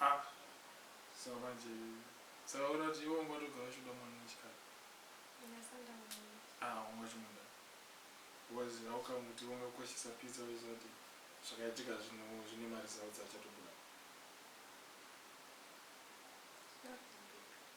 Ah, so manje saka uri kuti iwe wanga watogara uchida mwana wechikadzi ah wanga uchimuda was how come kuti wanga ukoshesa pizza uchiziva kuti zvakaitika zvino zvine maresults achatobuda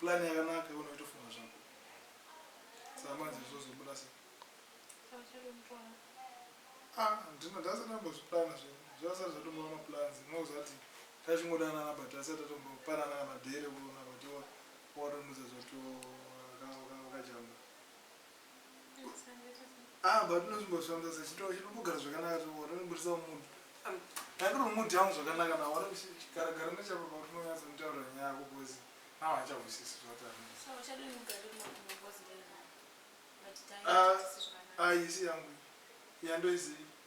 Plan yakanaka iwe unoitofunga zvako. Saka manje zvozobuda sei? Ah, ndino ndasati ndambozviplana zve. Zvasati zvatombova maplans. Unozati tachingodanana but asati tatombopanana kana dare kuona kuti watonudza zvoto wakajamba. Ah, but unozvimbosvamba sa chitoo chinombogara zvakanaka choo watonobudisa mood ndandiri mood yangu zvakanaka na wari kuchigara gara nechapo pa unonyatsa kutaura nyaya yako bozi now hachahwisisi zvataaaiisi ah, ah, yangu yandoizii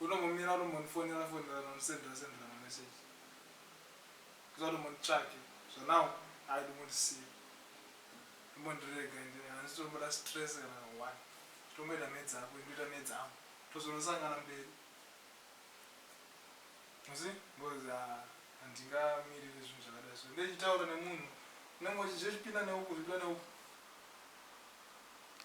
Unombomira unombondifonera fonera nondisendera sendera mamessage ndisati umbonditsvake zvanawo aidi kundisiya umbondirega ende handisi tomboda stress kana kahwani tomboita mhedzi ako indoita mhedzi angu tozonosangana mberi musi ngozi handingamirire zvinhu zvakadai so ndechitaura nemunhu unenge uchizvipinda neuku zvipinda neuku